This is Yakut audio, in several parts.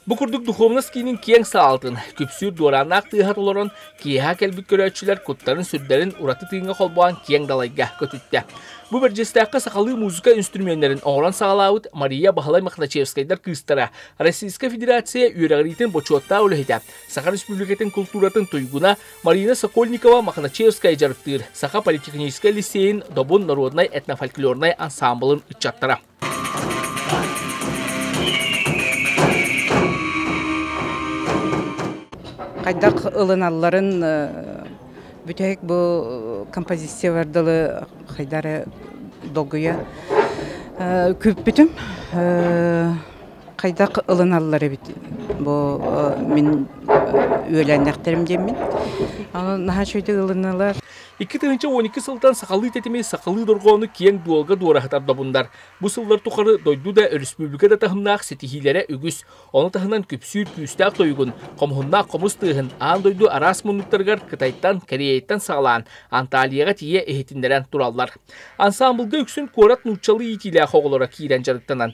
Бу курдук духуобунас киинин киэҥ саалатын, күпсүүр дуорааннаах тыаһа толорон, киэһэ кэлбит көрөөччүлэр куттарын-сүрдэрин ураты тыыҥҥа холбоон киэҥ далайга көтүттэ. Бу Бэрдьиэстээххэ сахалыы музыка инструменнэрин оҥорон саҕалаабыт Мария Баһылай Мохначевскайдар кыыстара, Российская Федерация үөрэҕириитин бочуоттаах үлэһитэ, Саха Республикатын култууратын туйгуна, Марина Сокольникова Мохначевская дьарыктыыр Саха политехническай лиссиэйин Добун народнай этнофольклорнай ансаамбылын ыччаттара. Хайдах ылыналларын бүтэһик бу композициялар дылы хайдары долгуя күппүтүм хайдах ылыналлар эбит бу мин үөлээннэхтэрим диэммин наһаа үчүгэй ылынылар икки тыһыынча он икки сылтан сахалыы тэтими сахалыы дорҕоону киэҥ дуолга дуораһытар добуннар бу сыллар тухары дойду да өрөспүүбүлүкэ да таһымнаах ситиһиилэрэ үгүс ону таһынан күпсүүр күүстээх тойугун хомуһуннаах хомус тыаһын аан дойду араас муннуктарыгар кытайтан кореяттан саҕалаан анталияҕа тиийэ иһитиннэрэн тураллар ансаамбылга үксүн куорат нууччалыы иитиилээх оҕолоро киирэн дьарыктанан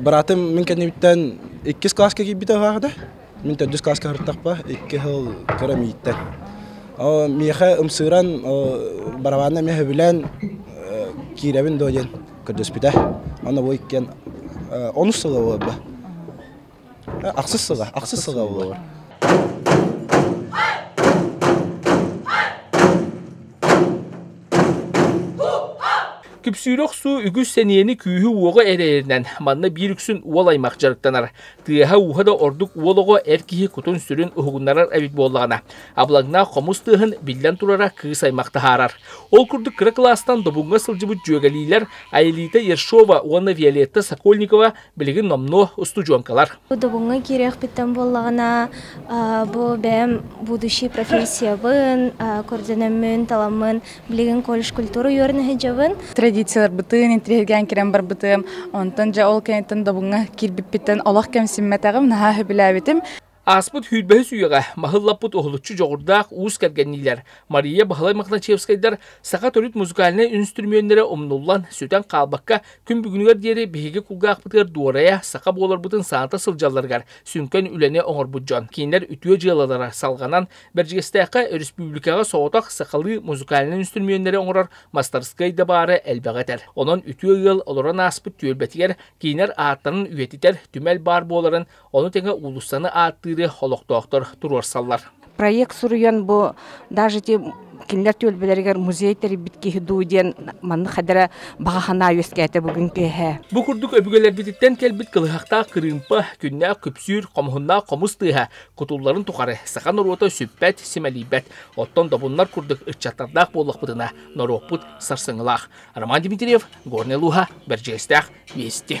Быраатым мин кэннибиттэн иккис класска киирбитэ үһаахда. Мин төрдүс класска харыттахпа икки сыл кыра мииттэн. Оо миэхэ ымсыыран барабанна эмиэ сөбүлээн киирэбин дуо диэн көрдөспүтэ. Онно бу иккиэн онус сыла буоларба. Ахсыс сыла, ахсыс сыла буолуо Күпсүүрэ охсуу үгүс сэниэни күүһү-уоҕу эрэйэринэн манна биир үксүн уол аймах дьарыктанар. Тыаһа-ууһа да ордук уол оҕо эр киһи кутун-сүрүн уһугуннарар эбит буоллаҕына, абылаҥнаах хомус тыаһын биллэн турара кыыс аймах таһаарар. Ол курдук кыра кылаастан Добуҥҥа сылдьыбыт дьүөгэлиилэр Айылита Ершова уонна Виолетта Сокольникова билигин номнуо устудьуоҥкалар. Дубуҥҥа киириэхпиттэн буоллаҕына, бу бэйэм будущий профессиябын, көрдөнөммүн, таламмын билигин колледж культура үөрэн сылдьабын. Традицияларбытын интриһиргээн кирэн барбытым, онтон дьэ ол кэнниттэн Дубуҥҥа киирбиппиттэн олох кэмсиммэтэҕим, наһаа сөбүлээбитим. Ааспыт сүүрбэһис үйэҕэ маһыллаппыт уһулуччу дьоҕурдаах уус кэргэнниилэр Мария Баһылай Мохначевскайдар саха төрүт музыкальнай үнүстүрүмүөннэрэ умнуллан, сүтэн хаалбакка күн бүгүнүгэр диэри биһиги кулгаахпытыгар дуорайа саха буоларбытын саната сылдьалларыгар сүҥкэн үлэни оҥорбут дьон. Кинилэр үтүө дьыалалара салҕанан Бэрдьигэстээххэ өрөспүүбүлүкэҕэ соҕотох сахалыы музыкальнай үнүстүрүмүөннэри оҥорор мастарыскыай да баара элбэҕи этэр. Онон үтүө ыал олорон ааспыт түөлбэтигэр кинилэр ааттарын үйэтитэр түмэл баар буоларын Ону тэҥэ уулуссаны ааттыыры олохтоохтор туруорсаллар. Проект суруйан бу даже те кинилэр түөлбэлэригэр музей тэрийбит киһи дуу диэн маннык хадара баҕа санаа үөскээтэ бүгүн тыаһа. Бу курдук өбүгэлэрбититтэн кэлбит кылыһахтаах кырыымпа, күннээх күпсүүр, хомуһуннаах хомус тыаһа кутулларын тухары саха норуота сүппэт, симэлийбэт. Оттон добуннар курдук ыччаттардаах буоллахпытына, норуоппут сарсыҥылаах. Роман Дмитриев, Горный Луга, Бэрдьиэстээх, Вести.